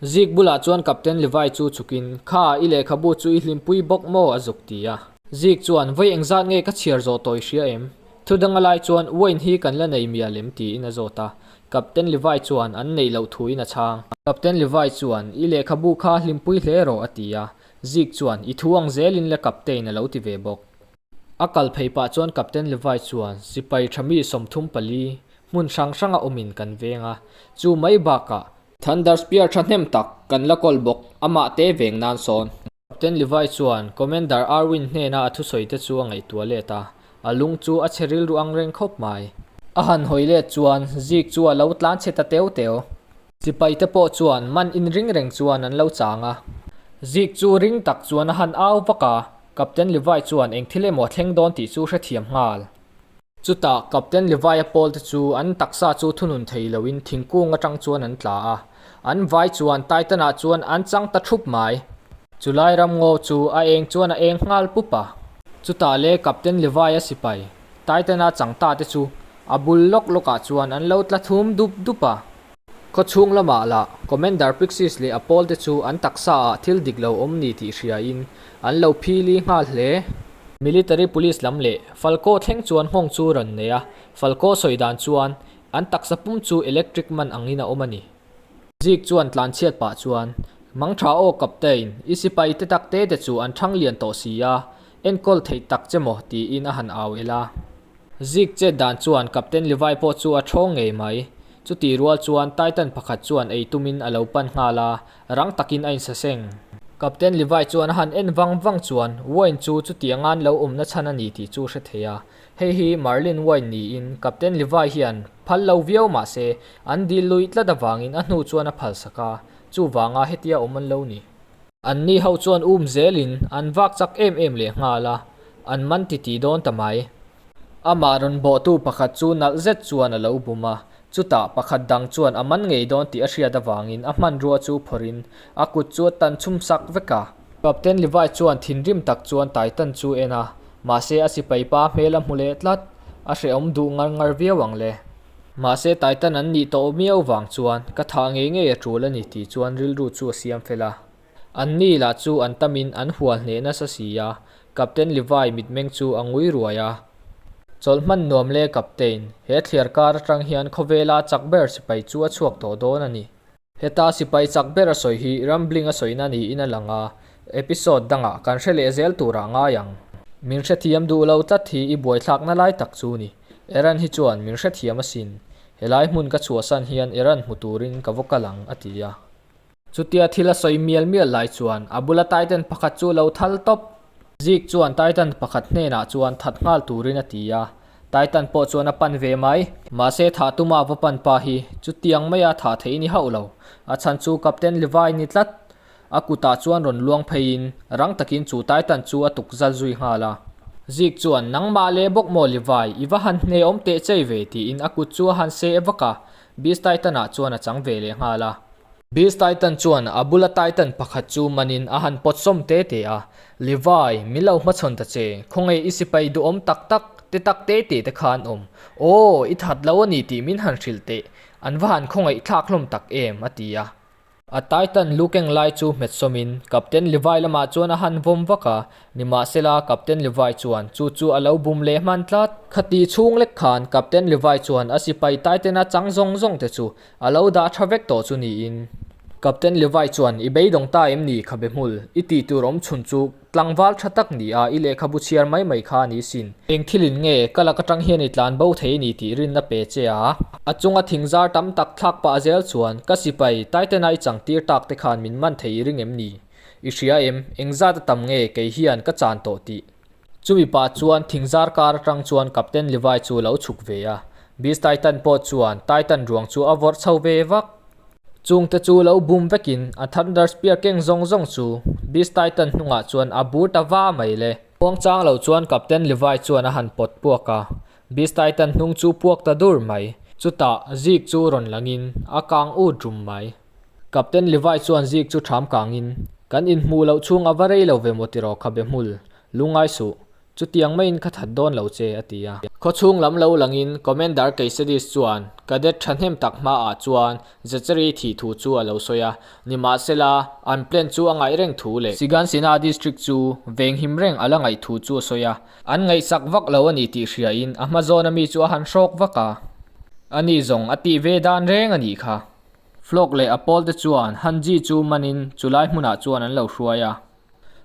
Zik bulah chuan Captain Levi chu chukin, Kha, i lehkhabu chu i hlimpui bawk maw? a zuk ti a. Zik chuan, Vawi eng zat nge ka chhiar zawh tawi hria em? Thu danga lai chuan Wayne hi kan la nei mia lem tiin a zawt a. Captain Levi chuan an neih loh thuin a chhang. Captain Levi chuan, I lehkhabu kha hlimpui hle rawh a ti a. Zik chuan, I thu ang zelin le Captain a lo ti ve bawk. A kal phei pah chuan Captain Levi chuan, Sipai tha mi sawmthum pali hmun hrang hranga awmin kan veng a, chu mai bakah Thunders piar thahnem tak kan la call bawk amah te veng nan sawn. Captain Levi chuan Commander Arwin hnena a thusawi te chu a ngaihtuah let a, a lung chu a chhe rilru ang reng khawp mai. A han hawi let chuan Zeke chu a lo tlan chhe ta teu teu. Sipai te pawh chuan man in ring reng chuan an lo chang a. Zeke chu ring tak chuan a han au vak a, Captain Levi chuan eng thil emaw a thleng dawn tih chu hrethiam nghal. Chutah Captain Levi-a pawlte chu an taksa chu thunun thei loin thingkung atang chuan an tla a, an vai chuan Titan-ah chuan an chang ta thup mai. Chulai ramngaw chu a eng chuan a eng nghal pup a. Chutah le Captain Levi-a sipai Titan-a changtate chu a bul lawk lawkah chuan an lo tla thum dup dup a. Khawchhung lama la, Commander Pixies leh a pawl te chu an taksa ah thil dik lo awm ni tih hria in an lo phil i nghal hle. Military Police lam leh Falco thleng chuan nghawng chu rawn nei a, Falco sawi dan chuan an taksa pum chu electric man ang in a awm a ni. Zig chuan tlan chhiat pah chuan, Mangtha aw Captain, i sipai te tak te te chu an thang lian tawh si a, Enkawl theih tak che maw? tiin a han au el a. Zig chet dan chuan Captain Levi pawh chu a thawng ngei mai. Chutih rual chuan Titan pakhat chuan ei tumin a lo pan nghal a, rang takin a insaseng. Captain Levi chuan a han en vang vang chuan Wayne chu chuti angan lo awmna chhan a ni tih chu hre thei a. Hei hi Marlin Wayne niin Captain Levi hian phal lo viau mah se, an dil lui tlat avangin a hnu chuan a phalsak a, chuvanga hetia awm an lo ni. An ni ho chuan um zel in an vak chak em em leh nghal a, an man ti ti dawn ta mai. Amah rawn bawhtu pakhat chu nalh zet chuan a lo bum a, chutah pakhat dang chuan a man ngei dawn tih a hriat avangin a hmanrua chu phawrhin a kut chu a tan chhum sak vek a. Captain Levi chuan thinrim tak chuan Titan chu en a, mahse a sipai pa hmel a hmu leh tlat, a hrehawm duh ngar ngar viau ang le. Mahse Taitan an nih tawh miau vang chuan ka thah ngei ngei a tul a ni tih chuan rilru chu a siam fel a. An ni lah chu an tam in an hual hneh nasa si a, Captain Levi mitmeng chu a ngui ruai a. Chawlh hman nuam le Captain, he thliar kar atang hian khawvela chak ber sipai chu a chhuak tawh dawn a ni. Heta sipai chak ber a sawi hi rambling a sawina niin a lang a, episode dangah kan hre leh zel turah ngai ang. Min hrethiam duh lo tlat hi i buaithlakna lai tak chu ni. Eran hi chuan min hrethiam asin. Helai hmun ka chhuahsan hian Eran hmu turin ka vaw kal ang, a ti a. Chutia thil a sawi mial mial lai chuan a bula taiten pakhat chu lo thal tawp. Zeke chuan Titan pakhat hnenah chuan that nghal turin a ti a, Titan pawh chuan a pan ve mai. Mahse, thah tuma va pan pa hi chutiang maia thah theih ni hauh lo. A chhan chu Captain Levi ni tlat. A kutah chuan rawn luang pheiin rang takin chu Titan chu a tuk zal zui nghal a. Zeke chuan, Nangmah leh bawk maw Levi, i va han hnehawm teh chei ve, tiin a kut chu a han se e vak a, Beast Titan ah chuan a chang ve leh nghal a. Beast Titan chuan a bula Titan pakhat chu manin a han pawtsawm te te a, Levi, min lo hmachhawn ta che, khawnge i sipai duhawm tak tak te tak te te te kha an awm? Aw, i that lo a ni tih min han hrilh teh, an va han khawngaih thlak hlawm tak em? a ti a. A Titan lu keng lai chu hmetsawmin Captain Levi lamah chuan a han vawm vak a, nimahsela, Captain Levi chuan chu chu a lo bum leh hman tlat. Khati chhung lek khan Captain Levi chuan a sipai Titan-a chang zawng zawng te chu a lo dah tha vek tawh chu niin, Captain Levi chuan i beidawng ta em ni kha be hmul, i tih tur awm chhun chu, Tlangval tha tak ni a, i lehkhabu chhiar mai mai kha ni sin. Eng thilin nge ka lak atang hian i tlan bo thei ni tih rin a pe che a. A chunga thing zar tam tak thlak pah a zel chuan, Ka sipai, Taitena i changtir tak te khan min man thei i ring em ni? I hria em? Eng zat a tam nge kei hian ka chan tawh tih. Chumi pah chuan thing zar kar atang chuan Captain Levi chu a lo chhuk ve a. Beast Titan pawh chuan Titan ruang chu a vawrh chho ve vak. Chung te chu lo bum vekin a Thunder Spear keng zawng zawng chu Beast Titan hnungah chuan a bur ta va mai le. Khuang chang lo chuan Captain Levi chuan a han pawt puak a, Beast Titan hnung chu puak ta dur mai. Chutah Zeke chu rawn langin a kang ut rum mai. Captain Levi chuan Zeke chu tham kangin, Kan inhmuh loh chhung a va rei lo ve maw tiraw khabe hmul, lungai suh, Chutiang mai in ka that dawn lo che, a ti a. Khawchhung lam lo langin Commander Keisedis chuan Cadet thahnem tak hmaah chuan Zachary thih thu chu a lo sawi a, nimahsela, an plan chu a ngaih reng thu leh, Sigansina District chu veng him reng a la ngaih thu chu a sawi a, an ngaihsak vak lo a ni tih hriain a hma zawna mi chu a han hrawk vak a, a nih zawng a tih ve dan reng a nih kha. Flock leh a pawlte chuan Hanji chu manin chu lai hmunah chuan an lo hruai a,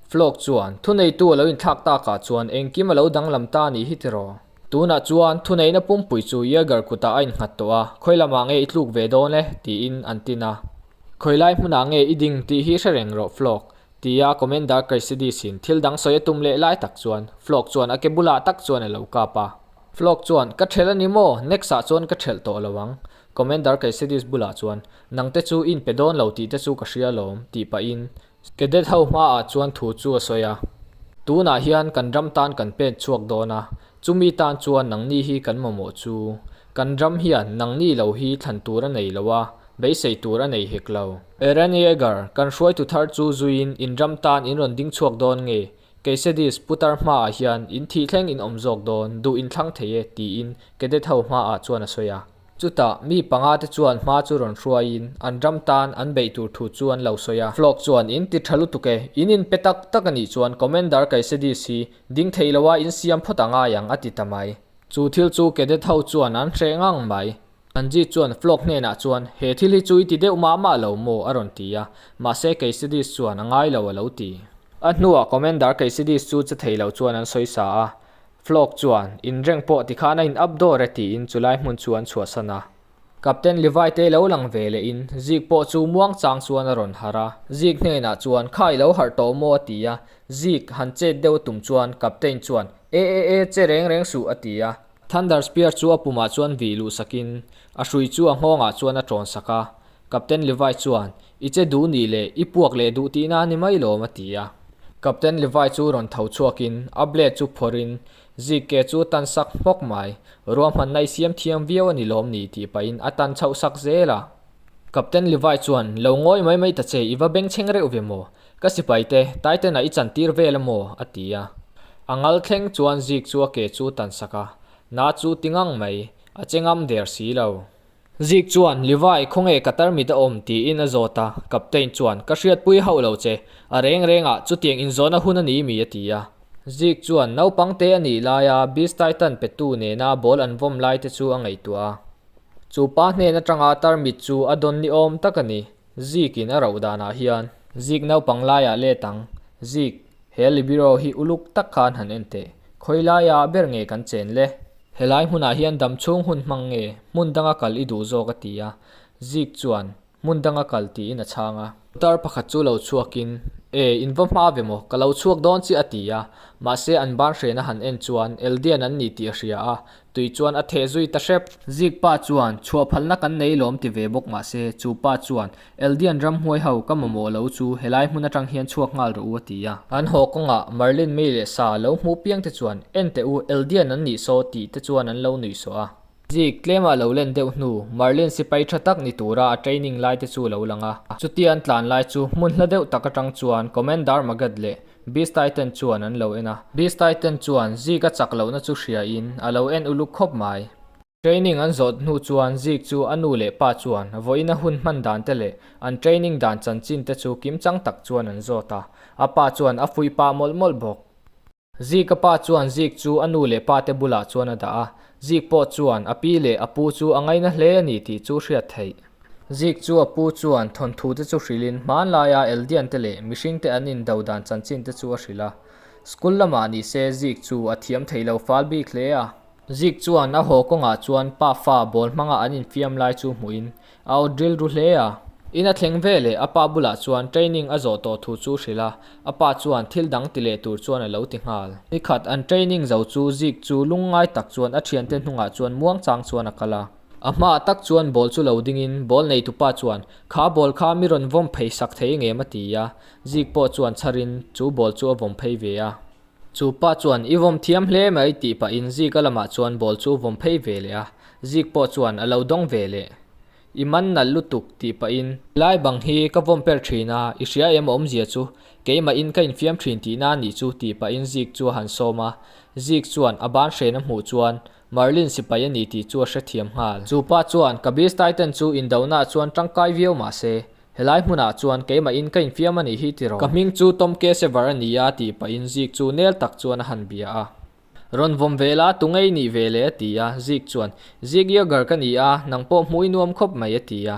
Flok chuan, Thuneitu a lo inthlak tak ah chuan engkim a lo danglam ta nih hi tiraw? Tunah chuan thuneihna pumpui chu Yeager kutah a inghat tawh a, Khawi lamah nge i tluk ve dawn e? tiin an tin a. Khawi lai hmunah nge i ding tih hi hre reng rawh Flok, ti a Commander Kaysidis in thil dang sawi a tum leh lai tak chuan Flok chuan a ke bulah tak chuan a lo kap a. Flok chuan, Ka ṭhelh a ni maw? Next ah chuan ka ṭhelh tawh lo ang. Commander Kaysidis bulah chuan, Nangte chu i inpe dawn lo tih te chu ka hria lawm, tih pahin Cadet ho hma ah chuan thu chu a sawi a, Tunah hian kan ram tan kan pet chhuak dawn a, chumi tan chuan nangni hi kan mamawh chu. Kan ram hian nangni lo hi thlan tur a nei lo a, beisei tur a nei hek lo. Eren Yeager, Kan hruaitu thar chu zuiin in ram tan in rawn ding chhuak dawn nge? Kcdis pu tar hma ah hian in thih thleng in awm zawk dawn, duh in thlang thei e, tiin cadet ho hma ah chuan a sawi a. Chutah, mi panga te chuan hma chu rawn hruaiin an ram tan an beih tur thu chu an lo sawi a. Flok chuan, In ti tha lutuk e, in in pe tak tak a nih chuan Commander Kaisedis hi ding theih lo a in siam phawt a ngai ang a ti ta mai. Chu thil chu Cadet ho chuan an hreh ngang mai. Anjit chuan Flok hnenah chuan, He thil hi chu i ti deuh mah mah lo maw? a rawn ti a. Mahse, Kaisedis chuan a ngai lo a lo ti. A hnuah Commander Kaisedis chu che thei loh chuan an sawi sa a. Flock chuan, Inreng pawh ti khan a in up dawr e tiin chu lai hmun chu an chhuahsan a. Captain Levi te lo lang ve leh in Zig pawh chu muang chang chuan a rawn harh a. Zig hnenah chuan, Kha i lo harh tawh maw a ti a. Zig han chet deuh tum chuan Captain chuan, E e e, che reng reng suh a ti a. Thunder Spear chu a pumah chuan vih luh sakin a hrui chu a nghawngah chuan a tawn sak a. Captain Levi chuan, I che duh nih le, i puak leh duh tih na a ni mai lawm, a ti a. Captain Levi chu rawn tho chhuakin a blade chu phawrhin, Zig ke chu tan sak hmawk mai, ruahmanna i siam thiam viau a ni lawm ni, tih pahin a tan chhoh sak zel a. Captain Levi chuan, Lo ngawi mai mai ta che, i va bengchheng reuh ve maw? Ka sipai te, Titan-ah i chantir vel a maw? a ti a. A ngal thleng chuan Zig chu a ke chu tan sak a, Na chu ti ngang mai, a che ngam der si lo. Zik chuan, Livai, khawnge ka tarmit a awm? tiin a zawt a, Captain chuan, Ka hriatpui hauh lo che, a reng reng a, chutiang inzawna hun a ni mi a ti a. Zik chuan, Naupang te a nih laia Beast Titan petu nena ball an vawm lai te chu a ngaihtuah a, chu pa hnen atanga tarmit chu a dawn ni awm tak a ni, Zik in a rauh danah hian. Zik, Naupang laia let ang, Zik. He libiro hi uluk tak kha an han en teh. Khawi laia ber nge kan chen le? Helai hmunah hian dam chhung hun hmang nge hmun danga kal i duh zawk a ti a, Zik chuan, Hmun danga kal, tiin a chhang a. Putar pakhat chu lo chhuakin, E, in va hma ve maw, ka lo chhuak dawn chi a ti a. Mahse an banhrena han en chuan Eldian an ni tih a hria a, Tui chuan a theh zui ta hrep. Zikpa chuan, Chhuah phalna kan nei lawm ti ve bawk mah se, chupa chuan, Eldian ramhuai ho, ka mamawh lo chu, helai hmun atang hian chhuak nghal rawh u a ti a. An haw kawngah Marlin mei leh sa lo hmu piang te chuan, En teh u, Eldian an nih saw tih te chuan an lo nuih saw a. Zik, Tlema lo len deuh hnu, Marlin sipai tha tak ni tura a training lai te chu lo lang a. Chuti an tlan lai chu, hmunhla deuh tak atang chuan Commander Magat leh Beast-i ten chuan an lo en a. Beast-i ten chuan Zeke a chak lohna chu hria in a lo en uluk khawp mai. Training an zawt hnu chuan Zeke chu a nu leh pa chuan vawiina hun hman dan te leh an training dan chanchin te chu kim chang tak chuan an zawt a. A pa chuan a fui pah mawlh mawlh bawk. Zeke-a pa chuan Zeke chu a nu leh pa te bulah chuan a dah a. Zeke pawh chuan a pi leh a pu chu a ngaina hle a ni tih chu hriat theih. Zik chu a pu chuan thawnthu te chu hrilhin hmanlai a Eldian te leh mihring te an in do dan chanchin te chu a hrilh a. School lamah ni se Zik chu a thiam thei lo fal bik hle a. Zik chuan a haw kawngah chuan pa fa ball hmanga an in fiam lai chu hmuhin a awt rilru hle a. In a thleng ve leh a pa bulah chuan training a zawh tawh thu chu hrilh a, a pa chuan thil dang ti leh tur chuan a lo ti nghal. Ni khat an training zo chu Zik chu lungngai tak chuan a thiante hnungah chuan muangchang chuan a kal a. A hma tak chuan ball chu lo dingin ball neitupa chuan, Kha ball kha mi rawn vawm phei sak thei engem a ti a, Zik pawh chuan chhar in chu ball chu a vawm phei ve a. Chu pa chuan, I vawm thiam hle mai tih pah in Zika lamah chuan ball chu vawm phei ve leh a, Zik pawh chuan a lo dawng ve leh. I man nalh lutuk tih pah in. Lai bang hi ka vawm per thin a, i hria em a awm zia chu, keimah in ka in fiam thin tih na anih chu tih pah in Zik chu a han sawm a, Zik chuan a ban hren a hmuh chuan Marlin sipai a ni tih chu a hrethiam nghal. Chu pa chuan, Kabir stai ten chu indonaah chuan tangkai viau mah se, helai hmunah chuan keimahin ka infiam a nih hi ti rawh. Ka hming chu Tom Kesevar a ni a tih pahin Zik chu nel tak chuan a han bia a. Rawn vawm ve la, tu ngei nih ve le a ti a, Zik chuan. Zik Yeager ka ni a, nang pawh hmuh i nuam khawp mai a ti a.